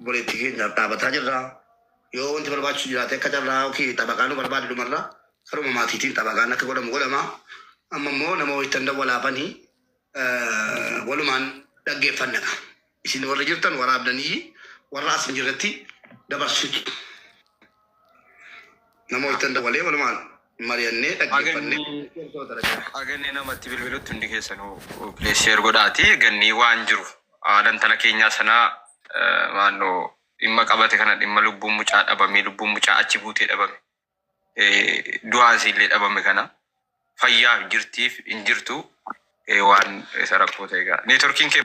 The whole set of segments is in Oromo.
obboleettii keenyaaf dhaabataa jirra. Yoo wanti barbaachisu jiraate akka carraa yookiin xabaqaa nu barbaade dhumarra karuma maatiitiin xabaqaan akka godhamu godhama. Amma immoo nama wayittan dawwalaafani walumaan dhaggeeffanna kaa. Isin warri jirtan waraabdanii warra as hin jirretti dabarsitu. Nama wajjin dabalee walumaan mari'annee dhaggeeffannee Aganni nama itti bilbilutti hundi keessanuu please share godhaati. Ganni waan jiru haala intala keenyaa sanaa eh, maaloo dhimma qabate kana dhimma lubbuun mucaa dhabame lubbuun mucaa achi buutee dhabame eh, du'aan isiillee dhabame kana fayyaaf jirtiif hin jirtu eh, waan isa rakkoo ta'e egaa neetworkiin kee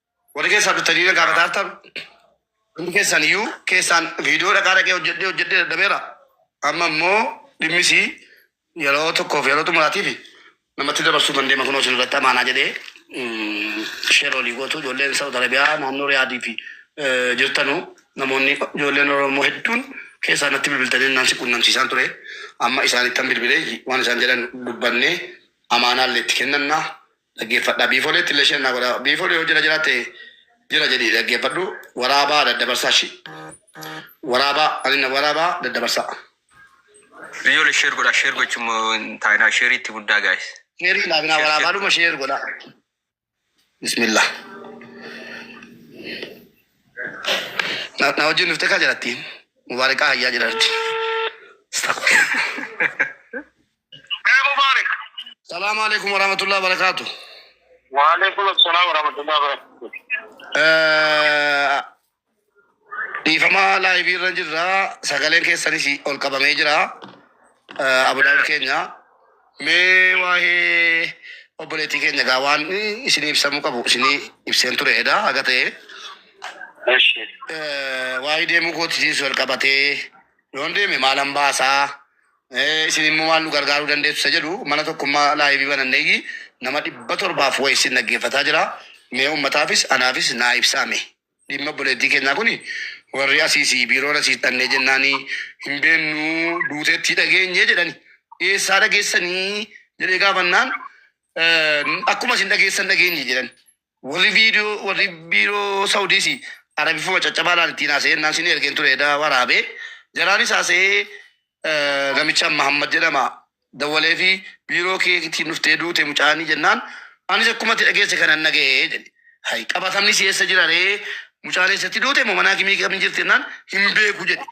Warri keessaa dhuftanii na gaafataa jirtan hundi keessan iyyuu keessaan viidiyoo dhaqaa dhaqee hojjedhee hojjedhee dadhabeera. Amma immoo dhimmis yeroo tokkoof yeroo xumuraatiif namatti dabarsuu kan deema kunoo isinirratti amaanaa jedhee mm, sheer olii gootu ijoolleen Saawud Arabiyaa naannoo Riyaadii fi eh, jirtanu namoonni ijoolleen Oromoo hedduun keessaa natti bilbiltanii naan si quunnamsiisaan ture. Amma isaanittan bilbilee waan isaan jedhan dubbannee amaanaa illee itti kennannaa. Dhaggeeffadhaa biifolee tille share naa godhaa biifolee yoo jira jira ta'e jira jedhi dhaggeeffadhu waraabaa daddabarsaa shi waraabaa ani na waraabaa daddabarsaa. Biyyoole share godhaa share gochuun moo hin taa'inaa share itti guddaa guys. Sheerii naaf naa Share waraabaa share. dhuma share godhaa. Bismillah. Na na wajjin dhuftee kaa jiratti. Mubaarikaa hayyaa jiraatti. Astaghfirullah. Hey Mubarak. Salaamu alaikum warahmatullahi wabarakatuh. Wa alaikum assalam wa rahmatullahi wa barakatuh. Eh, Dhiifama laayivii irra jirra. Sagaleen keessanis ol qabamee jira. Eh, Abudaan keenya. Mee waa'ee obboleettii keenya gaa waan isinii ibsamuu qabu isinii ibseen ture edaa haga ta'e. Eshi. Eh, Waa'ee deemuu kootiinis wal qabatee yoon deeme maalan baasaa Ee isin immoo maal nu gargaaruu dandeessu isa jedhu mana tokkummaa laayivii bananneeyyi nama dhibba torbaaf wayi isin dhaggeeffataa jira. Mee uummataafis anaafis naa ibsaa mee. Dhimma obboleettii keenyaa kuni warri asiisi biiroon asiis dhannee jennaani hin beennuu duuteettii dhageenye jedhani. Eessaa dhageessanii jedhee gaafannaan akkuma isin dhageessan dhageenye jedhan. Warri video warri biiroo Saudiis Arabifuma caccabaa laal ittiin haasa'ee innaan sinii ergeen ture edaa waraabe jaraanis haasa'ee eh, namichaan Mahammad jedhama dawwalee fi biiroo kee ittiin dhuftee duute mucaanii jennaan anis akkuma itti dhageesse kanan naga'ee jedhe hay qabatamni si'eessa jira ree mucaan eessatti duute moo manaa kimii qabni jirti jennaan hin beeku jedhe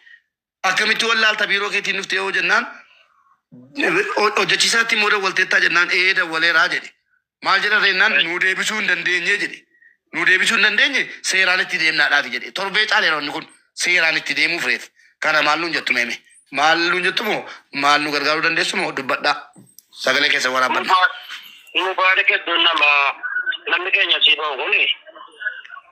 Akkamitti wallaalta biiroo keetiin dhuftee yoo jennaan hojjechiisaatti immoo dawwalteettaa jennaan ee dawwaleeraa jedhe. Maal jedhan reennaan Right. nuu deebisuu hin dandeenye jedhe. Nuu deebisuu hin dandeenye seeraan itti deemnaadhaafi jedhe. Torbee caaleera wanni kun seeraan itti deemuuf reef. Kana maal nuun jettu meeme? Maal nuun jettu moo maal nu gargaaruu dandeessu moo dubbadhaa. Sagalee keessa waraabbanna. Mubaarak hedduun nama namni keenya asii bahu kuni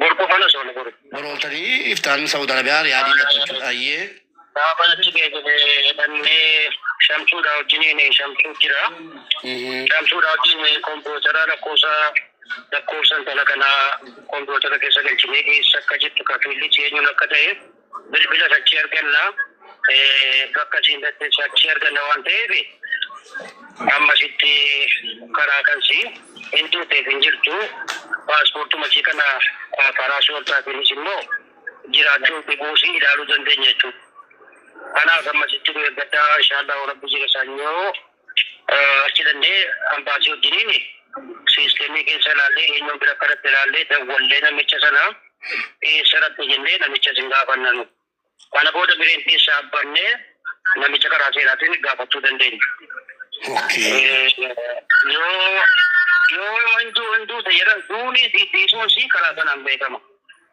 Bor qofan osoo nu godhu. Bor ooltanii iftaan Saudi Arabia Riyaadii natti jechuudha ayyee. Gaafan achi ga'e jedhee dhannee shamsuudha wajjiniin shamsuu jira. Shamsuudha wajjin kompiwuutara lakkoofsa lakkoofsa intala kanaa kompiwuutara keessa galchinee dhiyeessa akka jettu kafiilli eenyuun akka ta'e. bilbilas achii arganna bakka isiin dhattes achii arganna waan ta'eef amma sitti karaa kansi hin tuuteef hin jirtu paaspoortuma ishii kana karaa shoortaatiinis immoo jiraachuu dhibuus ilaaluu dandeenya jechuudha. Kanaaf amma sitti nu eeggadhaa inshaallah rabbi jira sanyoo. Achi dandee ambaasii wajjiniin siistemii keessa ilaallee eenyuun bira kanatti ilaallee dawwallee namicha sana eessarratti jennee namicha isin gaafannanu. Kana booda bireen keessaa abbannee namicha karaa seeraatiin gaafachuu dandeenya. Yoo yoo hunduu hunduu ta'e jedhan duunii fi dhiisuun sii karaa sanaan beekama.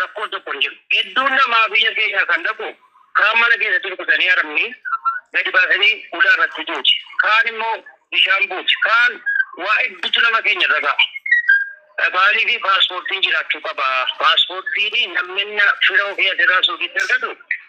Rakkoon tokko hin jiru. Hedduun namaa biyya keenya kan dhaqu kaan mana keessatti rukutanii arabni gadi baasanii ulaa irratti duuti. Kaan immoo bishaan buuti. Kaan waa hedduutu nama keenya irra ga'a. Maaliif paaspoortiin jiraachuu qaba. Paaspoortiin namni fira ofii asirraa suuqiitti argatu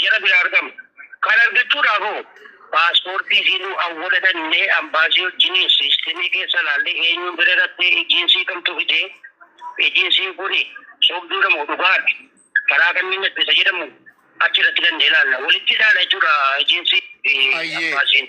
Jara biraa argama. Kana argachuudhaaf hoo? Paaspoortii fi nu awwala dhannee ambaasii wajjiniin siistemii keessa laallee eenyuun bira dhattee ejiinsii kamtu fide? Ejiinsiin kuni sobduudha moo dhugaadha? Karaa kamiin dhatte isa jedhamu achirratti dhannee laalla. Walitti ilaala jechuudha ejiinsii fi Hayyee. ambaasiin.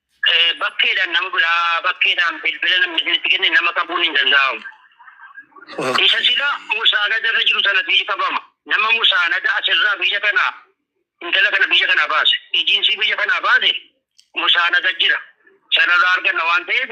Bakkeedhaan nama biraa bakkeedhaan bilbila namni isinitti kenne nama qabuun hin danda'amu. Okay. Isa sila musaanada irra jiru sanatu iji qabama. Nama musaanada asirraa biyya kana intala kana biyya kanaa baase. Ijiinsii biyya kanaa baase musaanada jira. Sanarraa arganna waan ta'eef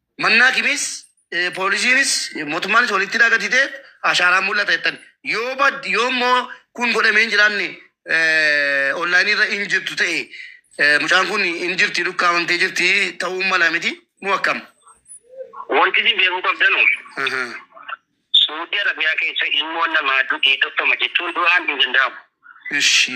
Mannaa kimis poolisiinis mootummaanis walitti hidhaa gatitee ashaaraan mul'ata jettan yoo bad yoo immoo kun godhamee hin jiraanne onlaayinii irra hin jirtu ta'e mucaan kun hin jirti dhukkaamamtee jirti ta'uu mala miti moo akkam? Wanti isin beekuu qabdanu Suudii Arabiyaa keessa ilmoon namaa du'ee tokkoma jechuun du'aan hin danda'amu. Ishi.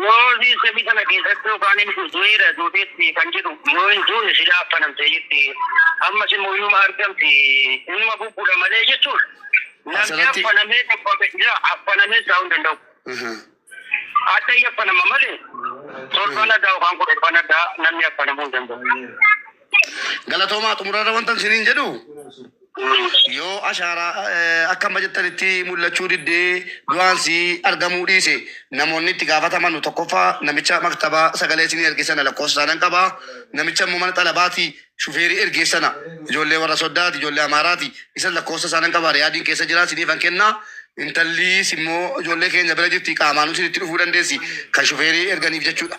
Moozii semi sana keessatti yookaan inni kun du'eera duuteetti kan jedhu yoo hin duune silaa affanamtee jirti. Ammas immoo inuma argamti inuma bubbula malee jechuun namni Asirratti- affanamee dhabbame jira affanamee isaa hin danda'u. Aha. Adda hin affanama malee torban addaa yookaan kudhan addaa namni affanamuu hin danda'u. Galatoomaa xumurarra wantan siniin jedhu yoo ashaaraa eh, akka amma jettanitti mul'achuu diddee du'aan si argamuu dhiise namoonni itti gaafataman tokkoffaa namicha maktabaa sagalee isinii ergeessana lakkoofsa isaanan qaba namicha immoo mana xalabaati shufeerii ergeessana ijoollee warra soddaati ijoollee amaaraati isan lakkoofsa isaanan qaba riyaadiin keessa jira siniifan kenna intalliis immoo ijoollee keenya bira jirti qaamaanuu sinitti dhufuu dandeessi kan shufeerii erganiif jechuudha.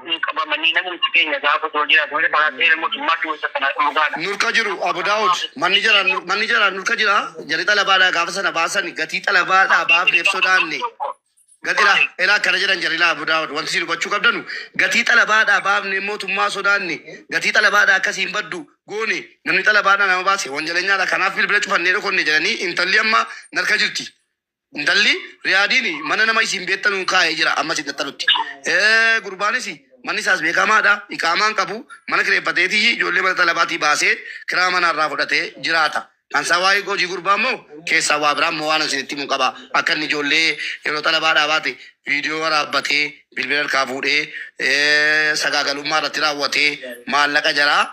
Kun qabamanii namumti keenya gaafa osoo jiraatu malee karaa seera mootummaatti wanta kana dhugaadha. Nurka jiru Abu Daawud manni jara manni jara nurka jira jarri xalabaadhaa gaafa sana baasan gatii xalabaadhaa baafneef sodaanne gatila elaa akkana jedhan jarri laa Abu Daawud wanti isin hubachuu qabdanu gatii xalabaadhaa baafne mootummaa sodaanne gatii xalabaadhaa akkasiin baddu goone namni xalabaadhaa nama baase wanjalenyaadha kanaaf bilbila cufannee dhokonne jedhanii intalli amma narka jirti Intalli Riyaadiin mana nama isiin beettanuun kaa'ee jira amma isin dhattanutti. Gurbaanis manni isaas beekamaadha, iqaamaa hin qabu, mana kireeffateetii ijoollee mana xalabaatii baasee kiraa manaa irraa fudhatee jiraata. Kan isaa waa'ee hojii gurbaa immoo keessaa waa biraa immoo waanan isinitti himun qaba. Akka inni ijoollee yeroo xalabaadhaa baate viidiyoo waraabbatee bilbila harkaa fuudhee sagaagalummaa irratti raawwatee maallaqa jaraa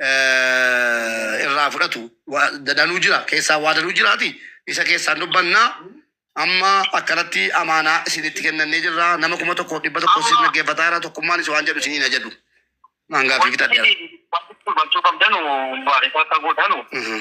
eh, irraa fudhatu Waa- danuu jira keessaa waa danuu jiraati isa keessaan dubbanna amma akkanatti amaanaa isinitti kennannee jirra nama kuma tokko dhibba tokko isin dhaggeeffataa jira tokkummaan isin waan jedhu isiniin ajadu maangaa fi fitadheera. Wanti dubbachuu qabdanu baarisaa akka gootanu Mhm.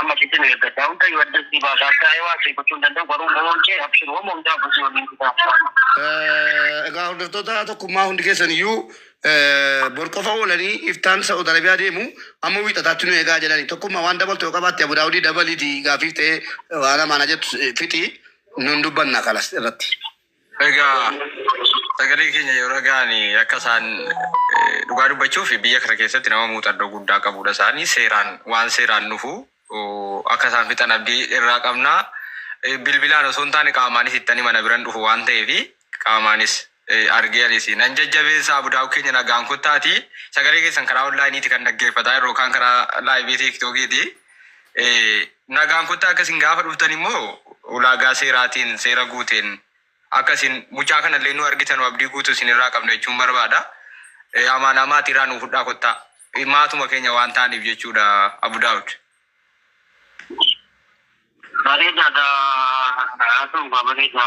Amma sitti nu eeggadha. Hunda yoo adda si baasa. Akka ta'e waa si gochuu hin danda'u. Garuu loon kee abshiru amma hundaa busii waliin fidaa. Eh, Egaa hordoftoota tokkummaa hundi keessan iyyuu eh, bor qofa oolanii iftaan Sa'ud Arabiyaa deemu amma wiixataatti nu eegaa jedhani. Tokkummaa waan dabaltu yoo qabaatte Abu Daawudii dabaliiti gaafiif ta'ee waan amaanaa jettu eh, fixi nun dubbanna kalas irratti. Egaa sagalee keenya yoo dhaga'an akka isaan eh, dhugaa dubbachuuf biyya kana keessatti nama muuxannoo guddaa qabudha isaanii seeraan waan seeraan dhufu oh, akka isaan fixan abdii irraa qabna Eh, bilbilaan osoo hin taane qaamaanis ittani mana biran dhufu waan ta'eef qaamaanis eh, argee anis nan jajjabeessa abudaa'u keenya nagaan kottaati sagalee keessan karaa onlaayiniiti kan dhaggeeffataa yeroo kaan karaa laayivii tiiktokiiti Eh, Nagaan kottaa akka isin gaafa dhuftan immoo ulaagaa seeraatiin seera guuteen akka isin mucaa kana illee nuu argitanu abdii guutu isin irraa qabna jechuun barbaada. Amaanaa maatii irraa nuu fudhaa kottaa. Maatuma keenya waan taaniif jechuudha Abu Daawud. Bareedaadha haasawuunsaa bareeda.